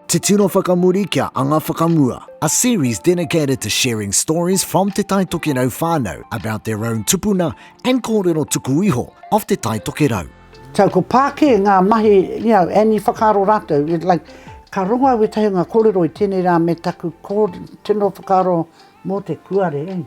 Te Tino Whakamuri kia Anga Whakamua A series dedicated to sharing stories from Te Tai Tokerau whānau about their own tupuna and kōrero tuku iho of Te Tai Tokerau. So ko pā kē ngā mahi, you know, and i whakaaro rātou, it like, ka rongo au wētahi o ngā kōrero i tēnei rā me taku kō, tino whakaaro mō te kuare.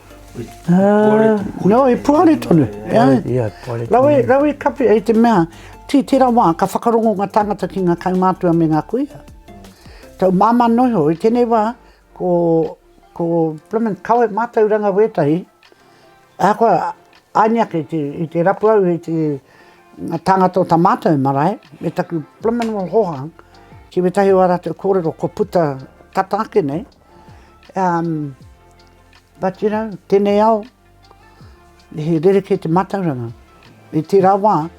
Nō, he puare tonu. Rawe, rawe kapi, hei te mea, tī tērā wā, ka whakarongo ngā tāngata ki ngā kaumātua me ngā kuia. Tau māmā noa iho, i tēnei wā, ko, ko Plymouth Coed mātauranga wētahi, ahakoa, aini ake te, i te rapu au i te, ngā tāngata o tā mātou marae, me taku Plymouth Hohang, ki wētahi o ā rātou kōrero, kua puta tata ake nei, Um, but you know, tenei ao, he rereke te matauranga. I tera wa,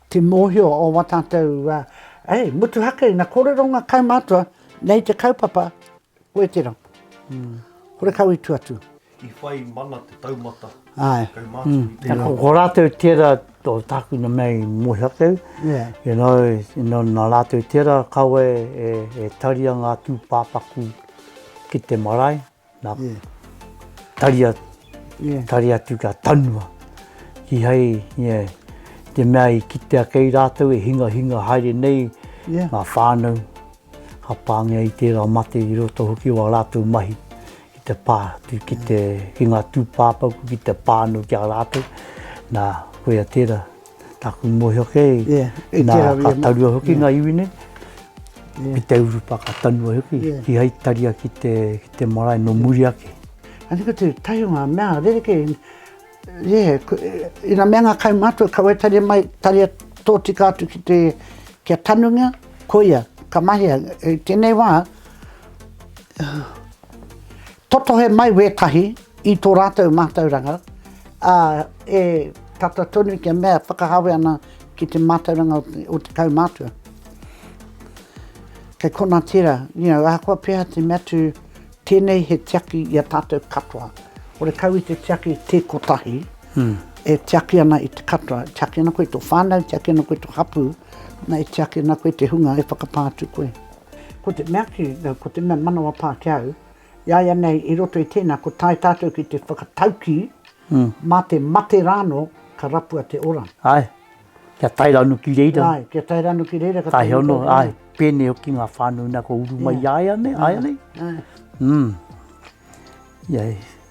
te mohio o wa tatou, uh, hey, mutuhake ina korero nga kaumatua, nei te kaupapa, koe tera. Mm. Kore kau i tu atu. I whai mana te taumata kaumātua i te reo. Ko rātou tērā o tākuna mea i moe ake, you know, nā rātou tērā kaua e taria ngā tūpāpaku ki te marae, nā, taria, taria atu kia tanua, kihai, yeah, te mea i kitea kei rātou e hingahinga haere nei ngā whānau, ka pāngia i tērā mate i roto hoki o ā rātou mahi Ki te pā, ki te, ki ngā tūpāpaku, ki te pā anō ki a rātou. Nā, koia tērā, tāku mōhio kei, nā, ka tarua hoki ngā iwi nei, ki te urupa, ka tanua hoki, ki hai taria ki te, ki te marae, nō muri ake. Anei ko te tahi o ngā mea rerekē. Ie, ina mea nga kaumātua ka waitangia mai taria tōtika atu ki te kia tanungia, koia, ka mahea, i tenei wā, totohe mai wētahi i tō rātou mātauranga, ā, e tata tonu kia mea whakahawe ana ki te mātauranga o te kaumātua. Kei kona tera, you know, ahakoa pea te mea tu, Tēnei he tiaki i a tātou katoa. Ore kau i te tiaki tē kotahi, e tiaki ana i te katoa, e tiaki ana koe i tō whānau, e tiaki ana koe i tō hapū, na e tiaki ana koe i te hunga e whakapā atu koe. Ko te mea ki, ko te mea manawa pā ki au, iaianei i roto i tēnā kua tae tātou ki te whakataukī, mā te mate rāno ka rapua te ora. Ae. Kia tae ranu ki reira. Ai, kia tae ranu ki reira. Ka tae hono, ai, pēnei hoki ngā whānau nā ko uru mai ai anei, ai anei. Mm. Ia,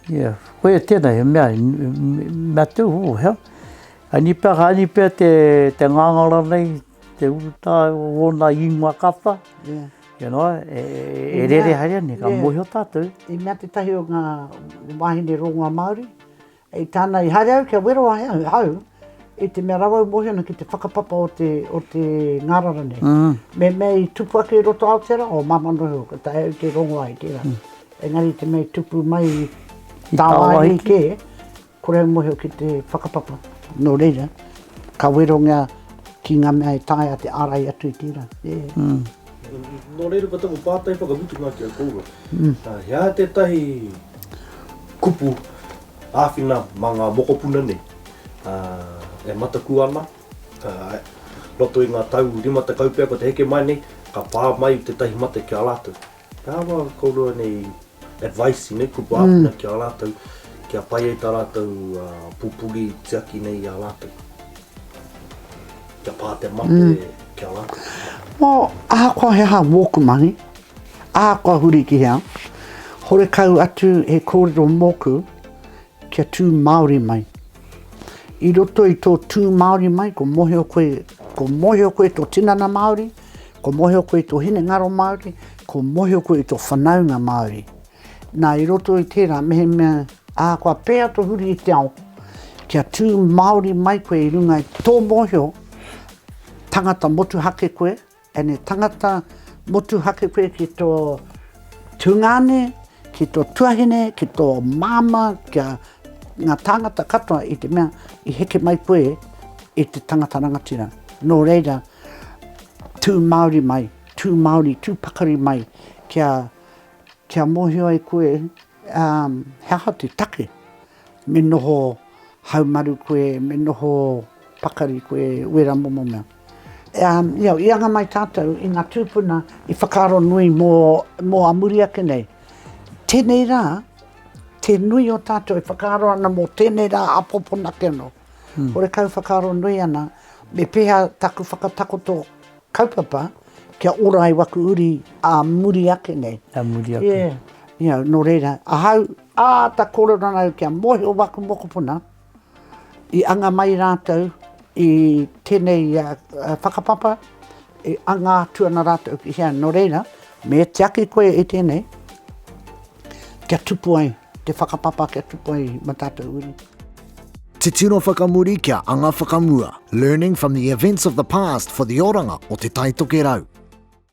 ia, koe e tēnei, he mea, mea teu hō, hea. Ai ni pea, ai ni pea te, te ngāngara nei, te urutā o wōna ingoa kapa. Yeah. You know, e, e, e rere haere anei, ka yeah. mōhio tātou. I mea te tahi o ngā wāhine rongoa Māori, I tāna, i haere au kia wero ai ahau, i te mea rawa au mōhio ana ki te whakapapa o te, o te ngārara nei. Me mea i tupu ake i roto Aotearoa, o māmā nō heo, ka taea au te rongo ai tērā. Engari te mea i tupu mai i tāwāhi kē, kore au mōhio ki te whakapapa. Nō reira, ka werongia ki ngā mea e taea te ārai atu i tērā. Nō reira ko taku pātai whakamutunga ki a kōua, he aha tētahi kupu āwhina mā ngā mokopuna nei e mataku ana, i roto i ngā tau rima tekau pea kua te heke mai nei, ka pā mai tētahi mate ki a rātou? He aha kōrua nei advice i nei kupu āwhina ki a rātou kia pai ai tā rātou pupuri tiaki nei i a rātou? Kia pā te mate ki a rātou? Mō ahakoa he aha wōku mahi, ahakoa huri ki hea, horekau atu he kōrero mōku Kia tū Māori mai. I roto i tō tū Māori mai, kua mōhio koe, kua mōhio koe tō tinana Māori, kua mōhio koe tō hinengaro Māori, kua mōhio koe i tō whanaunga Māori. Nā, i roto i tērā, mehemea ahakoa pēhea tō huri i te ao, kia tū Māori mai koe i runga i tō mōhio, tangata motuhake koe, Tēnei tangata motuhake koe ki tō tungāne, ki tō tuahine, ki tō māmā, ki a ngā tāngata katoa i te mea i heke mai koe i te tangata rangatira. Nō reira, tū Māori mai, tū Māori, tū pakari mai kia, kia mōhio ai koe He aha te take? Me noho haumaru koe, me noho pakari koe, wera momo mea. I anga mai tātou i ngā tūpuna i whakaaro nui mō a muri ake nei. Tēnei rā, te nui o tātou e whakaaro ana mō tēnei rā a pōpona ake anō. Horekau whakaaro nui ana, me pēhea taku whakatakoto Kaupapa, kia ora ai waku uri ā muri ake nei. Ā muri ake. Yeah. Ia, nō reira, ahau, āta kōrero ana au kia mōhio waku mokopuna, i anga mai rātou i tēnei whakapapa, e anga atu ana rātou ki hea. Nō reira, me tiaki koe i tēnei, kia tupu ai. Te whakapapa kia tupu ai ma tatou wini. Titiro whakamuri kia anga whakamua, learning from the events of the past for the oranga o Te Taitokerau.